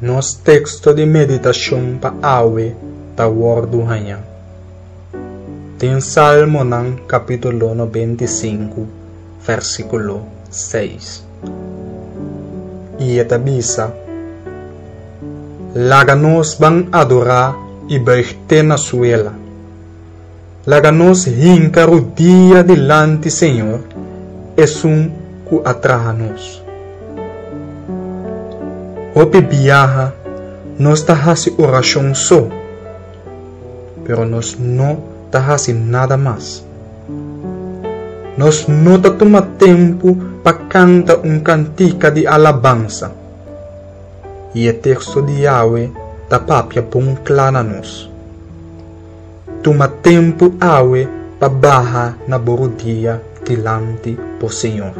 Nos teksto di meditashon pa awe ta wòrdu haña den Salmonan kapítulo nobenta i sinku, vèrsikulo seis. I e ta bisa, Laga nos ban adorá i bèg te na suela. Laga nos hinka rudia dilanti Señor, Esun cu a traha nos. Hopi biaha nos ta haci oracion so, pero nos no ta haci nada mas. Nos no ta tuma tempu pa canta un cantica di alabansa, y e texto di Yahweh ta papia bon cla na nos. Tuma tempu awe pa baha na bo rudia dilanti bo Señor.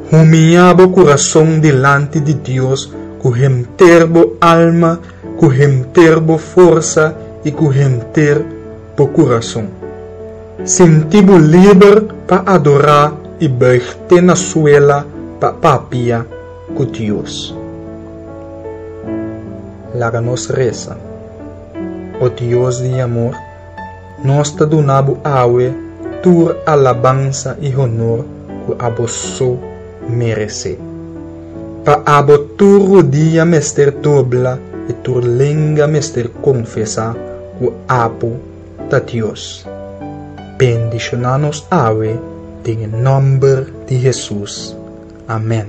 Humia bo curason dilanti di Dios cu henter bo alma, cu henter bo forsa y cu henter bo curason. Sinti bo liber pa adora y buig te na suela pa papia cu Dios. Laga nos reza. O Dios di amor, nos ta duna bo awe tur alabansa i honor ku abo so meresé. Pa abo tur rudia mester dobla i tur lenga mester konfesá ku abo ta Dios. Bendishoná nos awe den e nòmber di Hesus. Amèn.